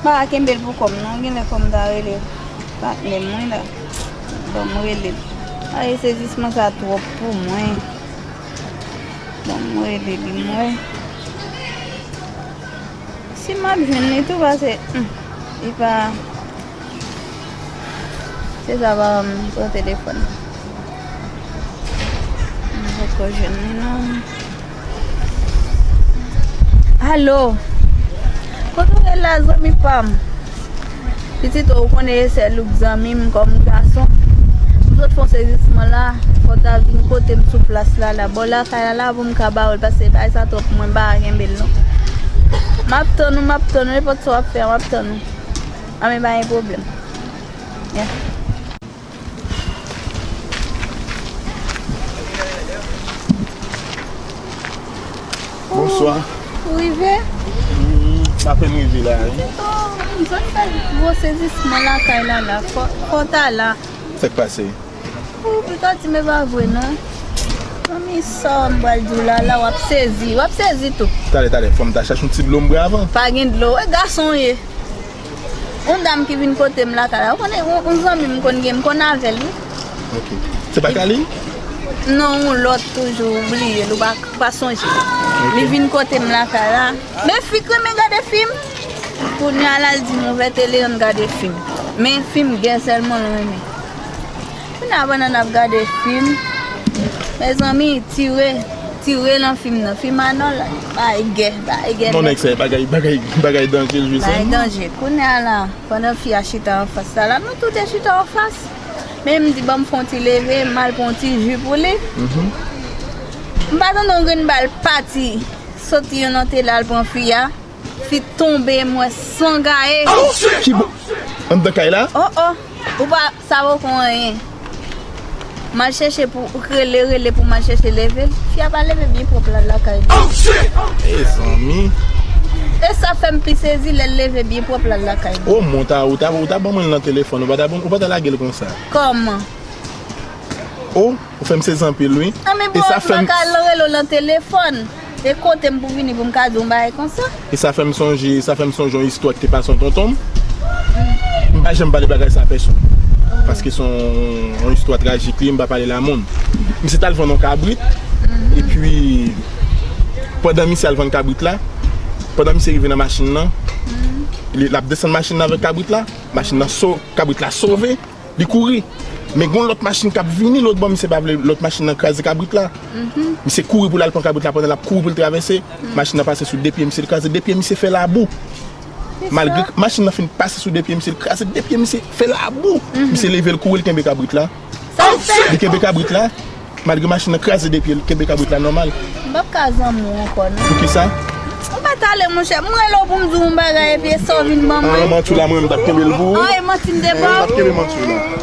Pa kenbel pou kòm non genlè fòm ta rele patnèm wi la banm relel ayy sezisman sa twòp pou mwen banm rele li m wè si map jwenn li tou pase li pa se sa pa banm pran telefòn m poko jwenn li non. Allo Kote ou ye la zanmi pam Pitit ou konnen e sè louk zanmim kòm gason M sot fon sezisman la fò ta vin kotem sou plas la la bò lakay la la poum ka bawèl pase bagay sa twòp mwen pa kenbel non Map tann ou map tann ou nenpòt sa wap fè a map tann ou Anben pa gen pwoblèm Yeah. Bonswa Ou rive? M apenn rive la wi M sot fè gwo sezisman lakay Lala Fò w ta la Sa k pase? Ou pito di m e pa vre non Manmi sa m pral di w Lala w ap sezi W ap sezi tou Talè talè fò m ta chache yon ti dlo m bwè avan Pa gen dlo E gason w ye? Yon dam ki vin kote m lakay la. Ou konnen yon zanmi m konn gen, m konn avè l wi. Ok. Se pa Kaline? Non, yon lòt toujou. Ou bliye l, ou pa sonje l. Li vin kote m lakay la. Men fi k renmen gade fim. Kounya la l di m ouvè tele an n gade fim. Men fim gè sèlman l renmen. Kounya banana ap gade film mezanmi tire tire nan film nan film anòl bay gè bay gè non nèg sa bagay bagay bagay danje jwe sa bagay danje kounya la pandan fi a chita anfas la la nou tou 2 chita anfas men mdi banm fon ti leve mal pran yon ti ju pou li mpa tande yon grenn bal pati soti yon nan tele al pran fi a. Fi tonbe mwen san gaye. Kibo andan kay la. Oh oh ou pa savo kon anyen. Mal chèche pou rele rele pou mal chèche level. Fi a pa leve byen pwop la lakay li. Oh shit. Mezanmi. E sa fem pi sezi lel leve byen pwop la lakay li. Oh mon ta ou ta ou ta ban mwen l nan telefon ou pata lagel konsa. Koman. Oh ou fem sezi anpil wi. Anmebo ou t baka l rele w nan telefon. E kote m pou vini pou m ka di yon bagay konsa? E sa fè m sonje, sa fè m sonje yon istwa ki te pase yon tonton m. M pa janm pale bagay sa a pèsonn. Paske se yon istwa trajik li, m pa pale l a moun. Misye t al vann yon kabrit, epi pandan misye al vann kabrit la, pandan misye rive nan machin nan, l ap desann machin nan avèk kabrit la, machin nan, kabrit la sove. li kouri men gon lòt machin kap vini lòt bò misye pa vle lòt machin nan kraze kabrit la misye kouri poul al pran kabrit la pandan lap kouri poul travèse machin nan pase sou 2 pye misye li kraze 2 pye misye fè labou malgre machin nan fin pase sou 2 pye misye li kraze 2 pye misye fè labou misye level kouri li kenbe kabrit la li kenbe kabrit la. Malgre machin nan kraze 2 pyel kenbe kabrit la nòmal. M pap ka zanmi w ankò non. Poukisa? Ou pa ta ale monchè, m rele w pou m di w yon bagay epi e sa w vin ban mwen. An manti w la mwen menm m tap kenbe l pou ou. An e manti m te ba w. An e m tap kenbe manti w la.